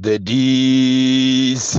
the dc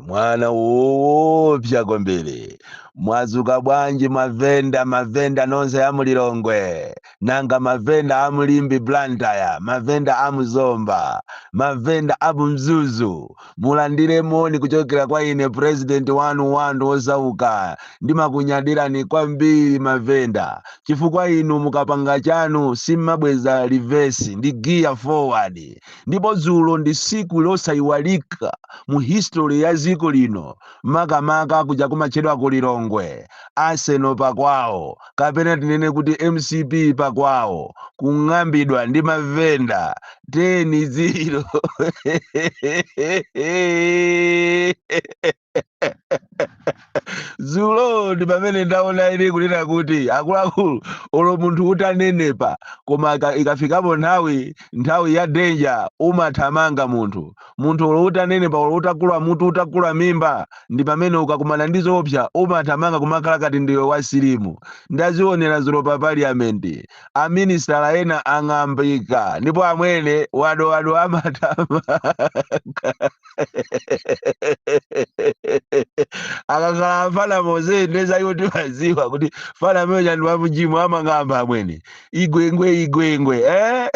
mwana woopsa kwambiri mwazuka bwanji mavenda mavenda nonse amulilongwe nanga mavenda amulimbe blantyre mavenda amuzomba mavenda amumzuzu Mulandire moni kuchokera kwa ine president wanu wa anthu osauka. Ndimakunyadirani kwambiri mavenda chifukwa inu mukapanga chanu simmabweza reverse ndi gear forward. Ndipo dzulo ndi siku losaiwalika mu history ya ziko lino makamaka kuja kumatchedwa ku Lilongwe, Arsenal pakwawo. kapena tinene kuti mcp pakwawo kung'ambidwa ndi mavenda 10 ziro zulo ndi pamene ndaona ine kunena kuti akuluakulu olo munthu utanenepa koma ika- ikafikapo nthawi nthawi ya denja umathamanga munthu Munthu olo utanenepa olo utakula mutu utakula mimba ndi pamene ukakumana ndi zoopsa umathamanga kumakhala kati ndiwe wa silimu. Ndazionera zulo pa parliament. A ministala ena ang'ambika ndipo amwene wadowado amathamanga. Akakhala mfana mose ndiye za iwo timaziwa kuti mfana ameneuja ndi wa mjimu amang'amba amwene. Igwengwe igwengwe eh?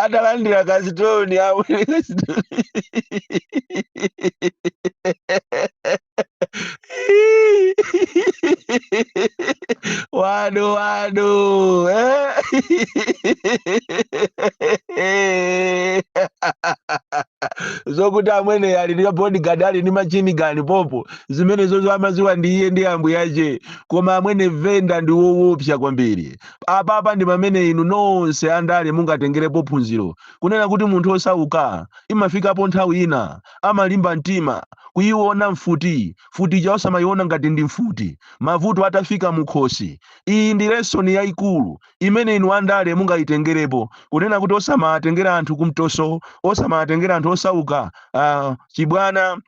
atalandira kasitoni amwene kasitoni wadowado eh? zokuti amwene ali ndi bodyguard ali ndi machini gani popo zimenezo amaziwa ndi iye ndi ambuyache koma amwene venda ndi wowopsa kwambiri apapa ndi pamene inu nonse andale mungatengerepo phunziro kunena kuti munthu osauka imafikapo nthawi ina amalimba mtima kuyiona mfuti mfutija osamayiona ngati ndi mfuti mavuto atafika mukhosi iyi ndi lesoni yayikulu imene inu andale mungayitengerepo kunena kuti osamatengera anthu kumtoso osamatengera anthu osauka uh, chibwana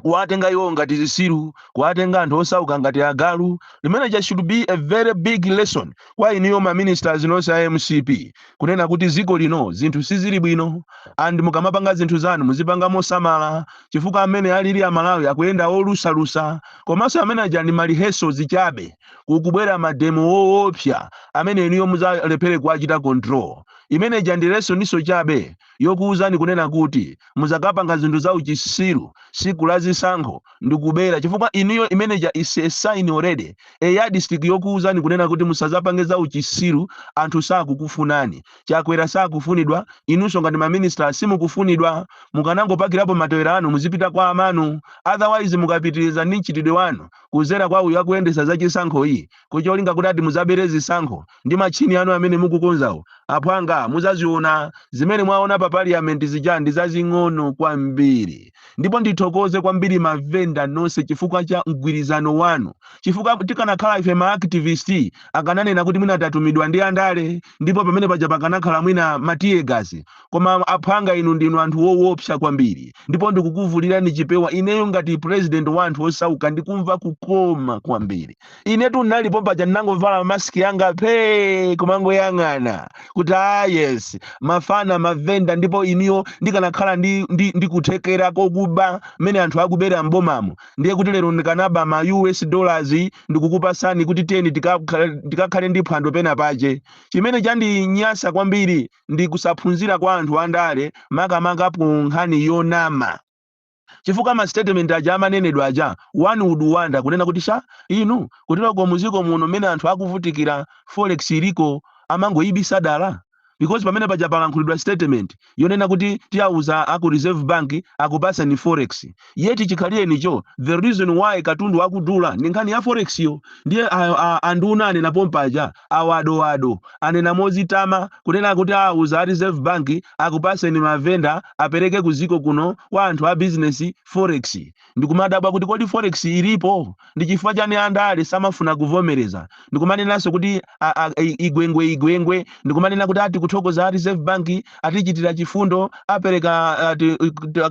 kuwatenga iwo ngati zisiru kuwatenga anthu osauka ngati agalu imeneja should be a very big lesson kwa inuyo ma ministers nonse a mcp kunena kuti ziko lino zinthu sizili bwino and mukamapanga zinthu zanu muzipanga mosamala chifukwa mmene alili amalawi akuyenda olusalusa komanso ameneaja ndi mariheso zichabe kukubwera mademo woopsa amene inuyo muzalephere kuwachita control imeneja ndi lesoniso chabe yokuuzani kunena kuti muzakapanga zinthu za uchisiru siku la zisankho ndikubera chifukwa inuyo imeneja is a sign already a yardstick yokuuzani kunena kuti musazapange za uchisiru anthu sakukufunani Chakwera sakufunidwa inunso ngati maminister simukufunidwa mukanangopakirapo matewera anu muzipita kwa amanu otherwise mukapitiriza ndi mchitidwe wanu kuzera kwa uyu akuyendesa za chisankho iyi kucholinga kuti ati muzabere zisankho ndi matchini anu amene mukukonzawo aphwanga muzaziona zimene mwaona pa parliament zija ndi zazing'ono kwambiri ndipo ndithokoze kwambiri mavenda nonse chifukwa cha mgwirizano wanu chifukwa tikanakhala ife ma activist akananena kuti mwina tatumidwa ndi andale ndipo pamene paja pakanakhala mwina ma teargas koma aphwanga inu ndinu anthu wowopsa kwambiri ndipo ndikukuvulirani chipewa ineyo ngati president wa anthu osauka ndikumva kukoma kwambiri inetu ndinalipo paja ndinangovala mask yanga phee kumangoyang'ana kuti ah yes mafana mavenda ndipo ineyo ndikanakhala ndi kuthekera kokuba mmene anthu akubera m'bomamo ndiye kuti lero ndikanaba ma us dollars ndikukupasani kuti tiyeni tikakhale ndi phwando pena pache chimene chandinyasa kwambiri ndi kusaphunzira kwa anthu andale makamaka ku nkhani yonama chifukwa ma statement aja amanenedwa aja one would wonder kunena kuti sha inu kuteroko muziko muno mmene anthu akuvutikira forex iliko amangoyibisa dala because pamene paja palankhulidwa statement yonena kuti tiyauza aku reserve bank akupaseni forex yet chikhalirenicho the reason why katundu akudula ndi nkhani ya forex yo ndiye anduna anena pompaja awa a Dowa anena mozitama kunena kuti awuza a reserve bank akupaseni mavenda apereke kuziko kuno kwa anthu a business forex ndikumadabwa kuti kodi forex ilipo ndi chifukwa chani andale samafuna kuvomereza ndikumanenanso kuti a Gwengwe a Gwengwe ndikumanena kuti ati kuthokoza a reserve bank atichitira chifundo apereka ati,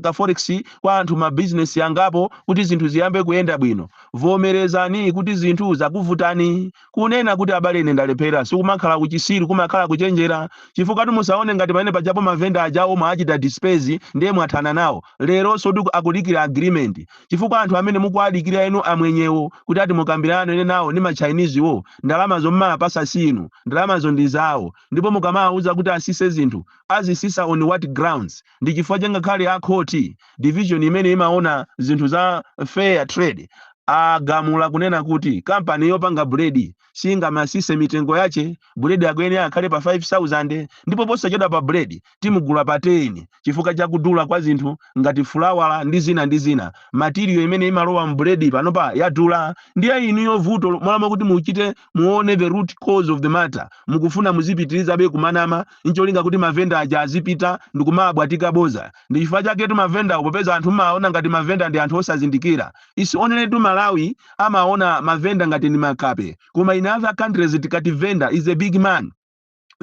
ka forex kwa anthu ma business angapo kuti zinthu ziyambe kuyenda bwino vomerezani kuti zinthu zakuvutani Kunena kuti abale ine ndalephera sikumakhala uchisiru kumakhala kuchenjera chifukwatu musaone ngati pamene pajapo mavenda ajawo mwaachita disperse ndiye mwathana nawo lerosotu akudikira agreement chifukwa anthu amene mukuwadikira inu amwenyewo kuti ati mukambirane nawo ndi ma Chinese wo ndalamazo mmawapasa si inu ndalamazo ndi zawo ndipo mukamawauza kuti asise zinthu azisisa on what grounds Ndi chifukwa chake ngakhale a khoti, division imene imaona zinthu za fair trade agamula kunena kuti company yopanga bread singamatsitse mitengo yache, bread akuyenera akhale pa 5000 ndipo posachedwapa bread timugula pa 10 chifukwa cha kudula kwa zinthu ngati fulawa ndi zina ndi zina. Material imene imalowa mu bread panopa yadula ndiye inuyo vuto mmalo mokuti muchite muone the root cause of the matter mukufuna muzipitirizabe kumanama ncholinga kuti mavenda aja azipita ndikumawabwatika boza ndi chifukwa chaketu mavendawo popeza anthu mumawaona ngati mavenda ndi anthu osazindikira isi onenetu malawi amaona mavenda ngati ndi makape koma in other countries tikati venda is a big man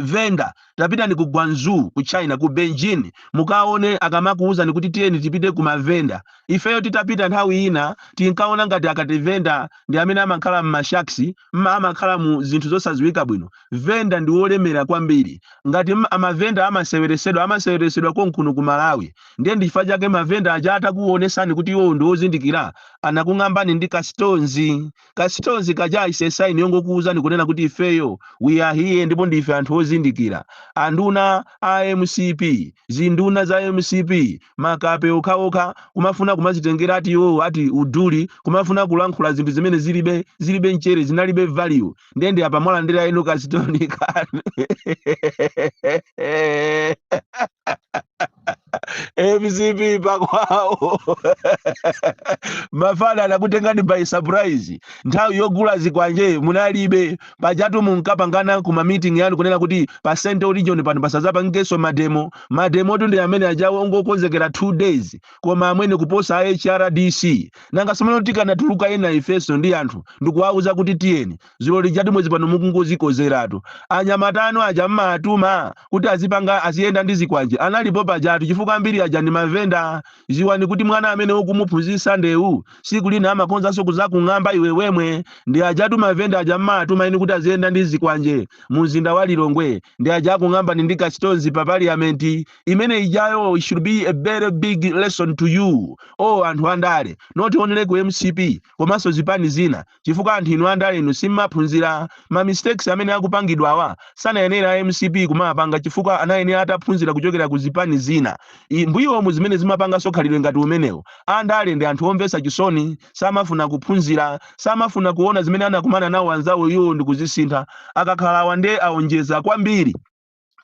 venda tapitani ku guangzhou ku china ku beijing mukaone akamakuwuzani kuti tiyeni tipite ku mavenda ifeyo titapita nthawi ina tinkaona ngati akati venda ndi amene amakhala m'mashaksi mma amakhala mu zinthu zosadziwika bwino venda ndi wolemera kwambiri ngati m- mavenda amaseweresedwa amaseweresedwa konkuno ku malawi ndiye ndi chifukwa chake mavenda aja atakuonesani kuti iwowo ndi wozindikira anakung'ambani ndi kasitonzi Kasitonzi kaja is a sign yongokuuzani kunena kuti ifeyo we are here ndipo ndife anthu ozindikira. Anduna a mcp, zinduna za mcp, makape okhaokha kumafuna kumazitengera ati iwowo ati uduli kumafuna kulankhula zinthu zimene zilibe zilibe mchere zinalibe value ndiye ndi apa mwalandira yenu kasitoni kanu. mcp pakwawo mafana anakutengani by surprise nthawi yogula zikwanje munalibe pajatu munkapangana ku mamiting yanu kunena kuti pa central region pano pasazapangenso mademo mademotu ndi amene ajawo ongokonzekera 2 days koma amwene kuposa a hrdc nanga simeno tikanatuluka ena ifeso ndi anthu ndikuwauza kuti tiyeni ziloli jatu mwezi pano mukungozikozeratu anyamata anu aja mmatuma kuti azipanga aziyenda ndi zikwanje analipo pajatu chifukwa ambiri aja ndi mavenda ziwani kuti mwana amene ukumuphunzitsa ndewu siku lina amakonzanso kuzakung'amba iwe wemwe ndi ajatu mavenda aja mmatuma inu kuti aziyenda ndi zikwanje mu mzinda wa lilongwe ndi aja akung'ambani ndi kasitonzi pa parliament imene ijayo it should be a very big lesson to you anthu andale not only ku mcp komanso zipani zina chifukwa anthu inu andale inu simmaphunzira, ma mistakes amene akupangidwawa sanayenera a mcp kumawapanga chifukwa anayenera ataphunzira kuchokera ku zipani zina mbuyomu zimene zimapanganso khalidwe ngati umenewu. Andale ndi anthu omvetsa chisoni, samafuna kuphunzira, samafuna kuona zimene anakumana nawo anzawo iwowo ndikuzisintha. Akakhala awa nde aonjeza kwambiri.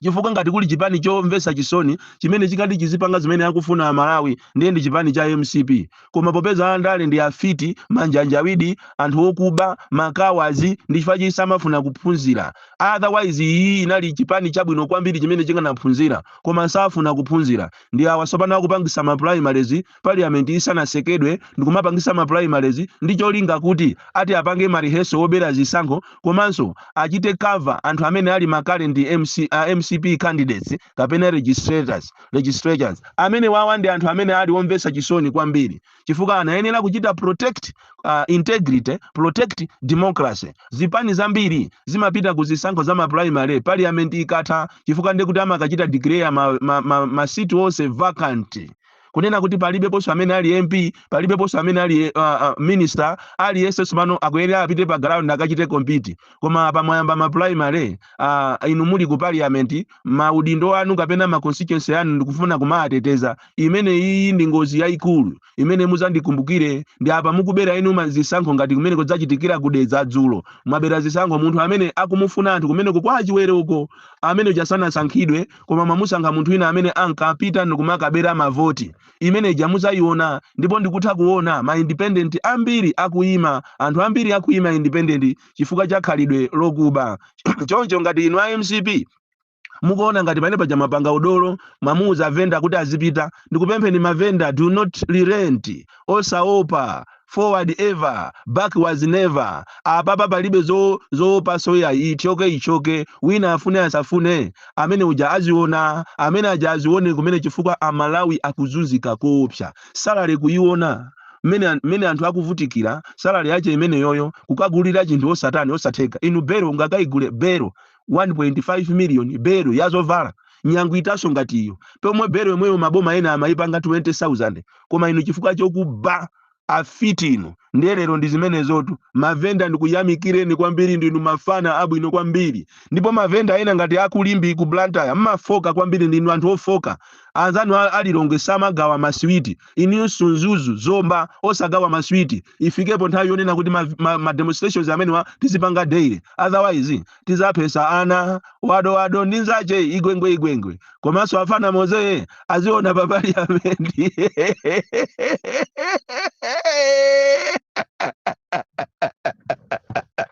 chifukwa ngati kuli chipani chomvesa chisoni chimene chikati chizipanga zimene akufuna Amalawi ndiye ndi chipani cha mcp. Koma popeza andale ndi afiti, manjanjawidi, anthu okuba, ma cowards ndi chifukwa chake samafuna kuphunzira. Otherwise iyi inali chipani chabwino kwambiri chimene chikanaphunzira koma safuna kuphunzira. Ndi awa tsopano akupangisa ma primaries. parliament isanasekedwe ndikumapangisa ma primaries ndi cholinga kuti ati apange ma rehearsal wobera zisankho komanso achite cover anthu amene ali ma current MC, uh, mcp candidates kapena legislators legislators amenewawa ndi anthu amene ali omvesa chisoni kwambiri chifukwa anayenera kuchita protect uh, integrity protect democracy zipani zambiri zimapita ku zisankho za ma primary parliament ikatha chifukwa ndekuti amakachita declare ma, ma, ma, ma seat onse vacant kunena kuti palibeponso amene ali mp palibeponso amene ali uh, uh, minister aliyense tsopano akuyenera apite pa ground akachite compete koma apa mwayamba ma primary uh, inu muli ku parliament maudindo anu kapena ma constituency anu ndikufuna kumawateteza imene iyi ndi ngozi yayikulu imene muzandikumbukire ndi apa mukubera inu ma- zisankho ngati kumeneku zachitikira ku Dedza dzulo mwabera zisankho munthu amene akumufuna anthu kumeneku kwa Chiwere uko amene uja sanasankhidwe koma mwamusankha munthu wina amene ankapita ndikumakabera mavoti. Imene ija muzaiona ndipo ndikutha kuona ma independent ambiri akuima, anthu ambiri akuima independent chifukwa cha khalidwe lokuba. Choncho ngati inu a mcp mukuona ngati pamene paja mwapanga udolo mwamuuza venda kuti azipita ndikupempheni mavenda do not relent osaopa Forward ever, backwards never, apapa palibe zo zoopanso ayi ithyoke ithyoke wina afune asafune amene uja aziona amene aja azione kumene chifukwa a Malawi akuzunzika koopsa salary kuyiona mmene an- mmene anthu akuvutikira salary yache imeneyoyo kukagulira chinthu osatani osatheka inu bero ungakaigule bero 1.5 million belo ya zovala nyangu itaso ngati iyo pomwe belo yomweyo maboma ena amayipanga 20000 koma inu chifukwa chokuba afiti inu ndiye lero ndi zimenezotu mavenda ndikuyamikireni kwambiri ndinu mafana abwino kwambiri ndipo mavenda ena ngati aku Limbe ku blantyre mmafoka kwambiri ndinu anthu ofoka anzanu a- a Lilongwe samagawa masiwiti Inunso Mzuzu, Zomba osagawa masiwiti. Ifikepo nthawi yonena kuti ma, ma, ma demonstrations amenewa tizipanga daily. Otherwise tizaphesa ana wado wado ndi nzache igwengwe igwengwe. Komanso afana moze aziona pa parliament.